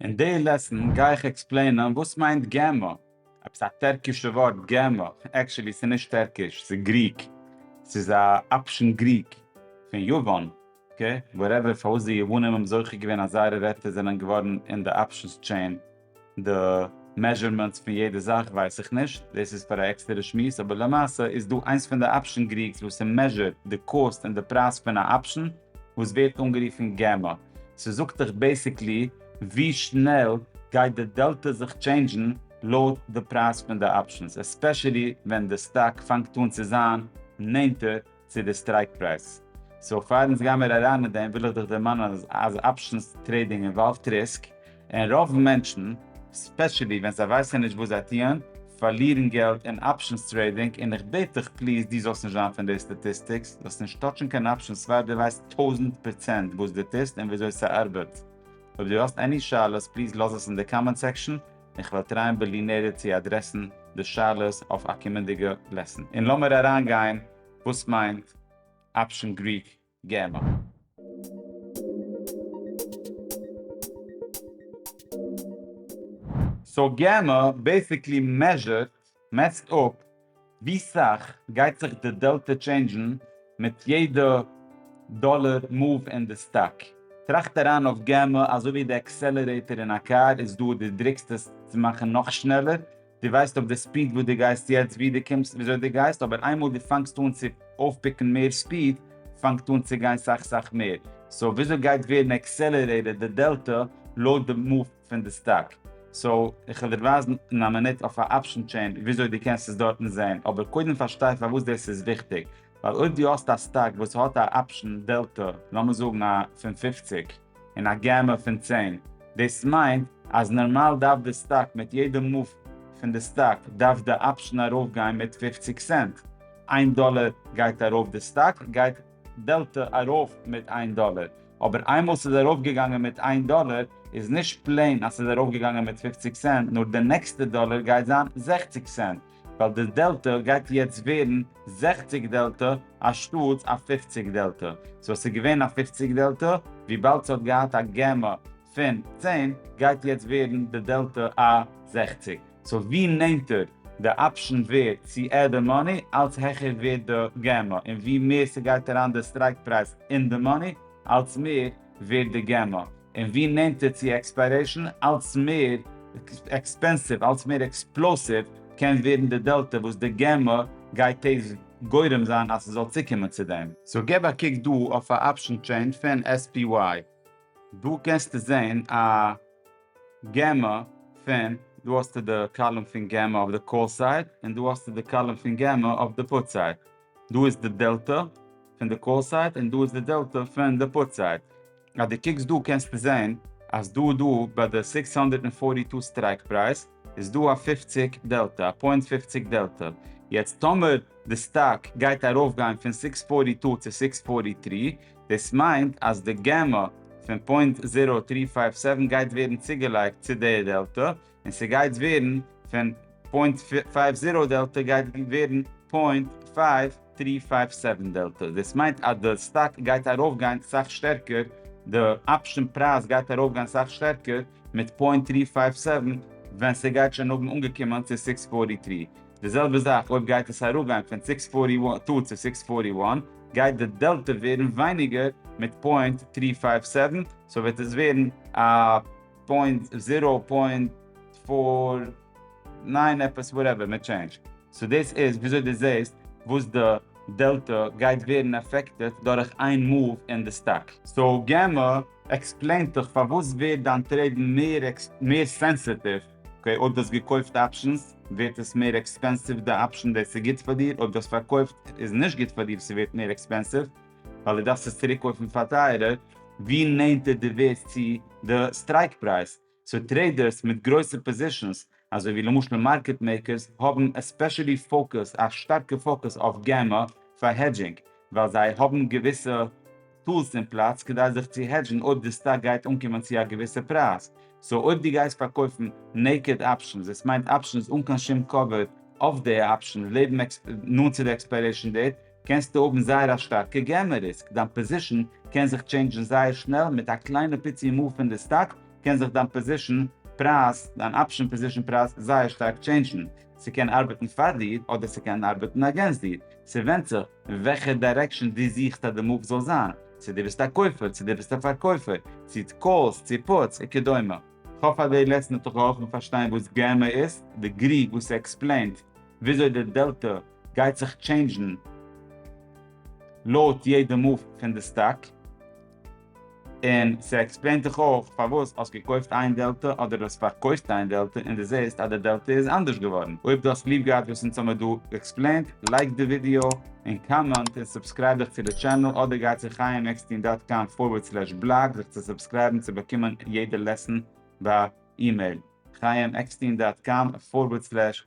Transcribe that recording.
אין די לעסן גיי איך עקספלעינען וואס מיינט גמ', עפעס א טערקישע ווארט גמ', עקשעלי ס'איז נישט טערקיש ס'איז גריק, ס'איז א אפשען גריק פון יוון, אקעי וואטעווער פארוואס די יוונים האבן זוכה געווען אז זייערע ווערטער זענען געווארן אין די אפשענס טשעין די מעזשערמענטס פון יעדע זאך ווייס איך נישט, דאס איז פאר א עקסטערע שמועס, אבער למעשה איז דא איינס פון די אפשען גריגס וואס ס'מעזשערט די קאסט און די פרייז פון א אפשען, וואס ווערט אנגערופן געמא, ס'זאגט דיך בעסיקלי ווי שנעל גייט די דעלטא זיך טשעינדזשן לויט די פרייז פון די אפשענס, עספעשעלי ווען די סטאק פאנגט אן צו זיין נענטער צו די סטרייק פרייז. סאו פאר אונז גיי מיר אריין אין דעם וויל איך דיך דערמאנען אז אפשענס טרעידינג אינוואלווט ריסק, און רוב מענטשן, ספעשעלי ווען זיי ווייסען נישט וואס זיי טוען, פארלירן געלט אין אפשענס טרעידינג, און איך בעט דיך פליז דו זאלסט נישט זיין פון די סטאטיסטיקס, זאלסט נישט טאטשן קיין אפשענס פאר דו ווייסט טויזענט פראצענט וואס דו טוסט און וויאזוי ס'ארבעט. אויב דו האסט עני שאלות פליז לאז עס אין די קאמענט סעקשאן, און כ'וועל טרייען בלי נדר צו אדרעסן די שאלות אויף א קומענדיגע לעסן. און לאמיר אריינגיין וואס מיינט אפשען גריק. גמ'. סאו גמ' בעסיקלי מעזשערט, מעסט אפ, ווי סאך גייט זיך די דעלטע טשעינדזשן מיט יעדע דאלער מאוו אין די סטאק. טראכט אריין אויף גמ' אזוי ווי די עקסעלערעיטער אין א קאר איז דא די דריקסט עס צו מאכן נאך שנעלער, די ווייסט אויף די ספיד וואס די גייסט יעצט ווי די קומסט וויאזוי די גייסט אבער איינמאל די פאנגסט אן צו אויפפיקן מער ספיד פאנגט אן צו גיין סאך סאך מער סאו וויאזוי גייט ווערן עקסעלערעיטעד די דעלטא לויט די מאוו פון די סטאק סאו איך וועל דיר ווייזן אין א מינוט אויף א אפשען טשעין וויאזוי די קענסט עס דארטן זעהן אבער קודם פארשטיי פארוואס דאס איז וויכטיג ווייל אויב די האסט א סטאק וואס האט א אפשען דעלטא לאמיר זאגן א פון פֿופֿציק. אין א געמע פון צען. דאס מיינט אז נארמאל דארף די סטאק מיט יעדע מאוו פון די סטאק דארף די אפשן ארויף גיין מיט פופציג סענט. איין דאלער גייט ארויף די סטאק גייט דעלטע ארויף מיט איין דאלער. אבער איינמאל ס'איז ארויף געגאנגען מיט איין דאלער איז נישט פלעין אז ס'איז ארויף געגאנגען מיט פופציג סענט נאר די נעקסטע דאלער גייט זיין זעכציג סענט. ווייל די דעלטא גייט יעצט ווערן זעכציג דעלטא אנשטאטס א פופציג דעלטא, סאו עס איז געווען א פופציג דעלטא, וויבאלד ס'האט געהאט א געמא פון צען גייט יעצט ווערן די דעלטא א זעכציג, סאו ווי נענטער די אפשן ווערט צו עד די מאני אלץ העכער ווערט די געמא, און ווי מער ס'גייט אריין די סטרייק פרייז אין די מאני אלץ מער ווערט די געמא. און ווי נענטער צו עקספיירעישאן אלץ מער עקספענסיוו אלץ מער עקספלאסיוו קען ווערן די דעלטע וואס די גמ' גייט טז גורם זיין אז ס'זאל צוקומען צו דעם. סאו געב א קוק דא אויף א אפשן טשעין פון SPY דא קענסטו זעהן א גמ' פון דא האסטו די קאלום פון גמ' אויף די קאל סייד און דא האסטו די קאלום פון גמ' אויף די פוט סייד דא איז די דעלטע פון די קאל סייד און דא איז די דעלטע פון די פוט סייד אז דו קוקסט דא קענסטו זעהן אז דא דא ביי די סיקס הונדערט און פארטי טא סטרייק פרייז איז דא א פופציג דעלטא, א פוינט פופציג דעלטא, יעצט טאמער די סטאק גייט ארויף גיין פון סיקס פארטי טא צו סיקס פארטי טרי דאס מיינט אז די גמא פון פוינט זירא טרי פייוו סעווען גייט ווערן צוגעלייגט צו די דעלטא, און ס'גייט ווערן פון פוינט פייוו זירא דעלטא גייט ווערן פוינט פייוו טרי פייוו סעווען דעלטא, דאס מיינט אז די סטאק גייט ארויפגיין סאך שטערקער, די אפשען פרייז גייט ארויפגיין סאך שטערקער מיט פוינט טרי פייוו סעווען ווען ס'גייט שוין האבן אנגעקומען צו סיקס פארטי טרי, די זעלבע זאך אויב גייט עס אראפגיין פון סיקס פארטי טו צו סיקס פארטי וואן גייט די דעלטא ווערן ווייניגער מיט פוינט טרי פייוו סעווען, סאו וועט עס ווערן א. פוינט זיראו פוינט פאר ניין עפעס וואטעווער מיט טשעינדזש. סאו דאס איז וויאזוי דו זעסט וואס די דעלטא גייט ווערן אפעקטעט דורך איין מאוו אין די סטאק. סאו גמא, עקספלעין דיך פארוואס ווערט דיין טרעיד מער מער סענסיטיוו, אקעי אויב דו האסט געקויפט אפשענס ווערט עס מער עקספענסיוו די אפשען דאס איז גוט פאר דיר, אויב דו האסט פארקויפט איז נישט גוט פאר דיר ס'ווערט מער עקספענסיוו. ווייל דו דארפסט עס צוריקקויפן פאר טייערער ווי נענטער דו ווערסט צו די סטרייק פרייז, סאו טרעידערס מיט גרויסע פאזישאנס אזוי ווי למשל מארקעט מעיקערס האבן עספעשעלי פאוקוס א שטארקע פאוקוס אויף גמ א פאר העדזשינג ווייל זיי האבן געוויסע טולס אין פלאץ כדי זיך צו העדזשן אויב די סטאק גייט אנקומען צו א געוויסע פרייז, סאו אויב דו גייסט פארקויפן נעיקעד אפשענס דאס מיינט אפשענס אן קיין שום קאווער אויף די אפשען לעבן נאנט צו די עקספיירעישן דעיט קענסטו האבן זייער א שטארקע געמא ריסק, דיין פאזישן קען זיך טשעינדזשן זייער שנעל, מיט א קליינע פיצי מאוו פון די סטאק קען זיך דיין פאזישן פרייז, דיין אפשן פאזישן פרייז, זייער שטארק טשעינדזשן, ס'קען ארבעטן פאר דיר אדער ס'קען ארבעטן אגענסט דיר, ס'ווענדט זיך אין וועלכע דיירעקשאן דו זוכסט אז די מאוו זאל זיין, צו דו ביסט א קויפער צו דו ביסט א פארקויפער, צו קאלס צו פוטס וכדומה. כ'האף אז די לעסן האט דיך געהאלפן פארשטיין וואס געמא איז, די גרי וואס ס'עקספלעינט וויאזוי די דעלטא גייט זיך טשעינדזשן לויט יעדע מאוו פון די סטאק, און ס'עקספלעינט דיך אויך פארוואס האסט געקויפט איין דעלטע אדער האסט פארקויפט איין דעלטע און די זעהסט אז די דעלטע איז אנדערש געווארן. אויב די האסט ליב געהאט וואס אונז האמיר דא עקספלעינט, לייק די ווידיאו און קאמענט און סובסקרייב דיך צו די טשענעל אדער גיי צו חיים עקסטין דאט קאם פארווערד סלעש בלאג זיך צו סובסקרייבן צו באקומען יעדע לעסן ביי אימעיל, חיים עקסטין דאט קאם פארווערד סלעש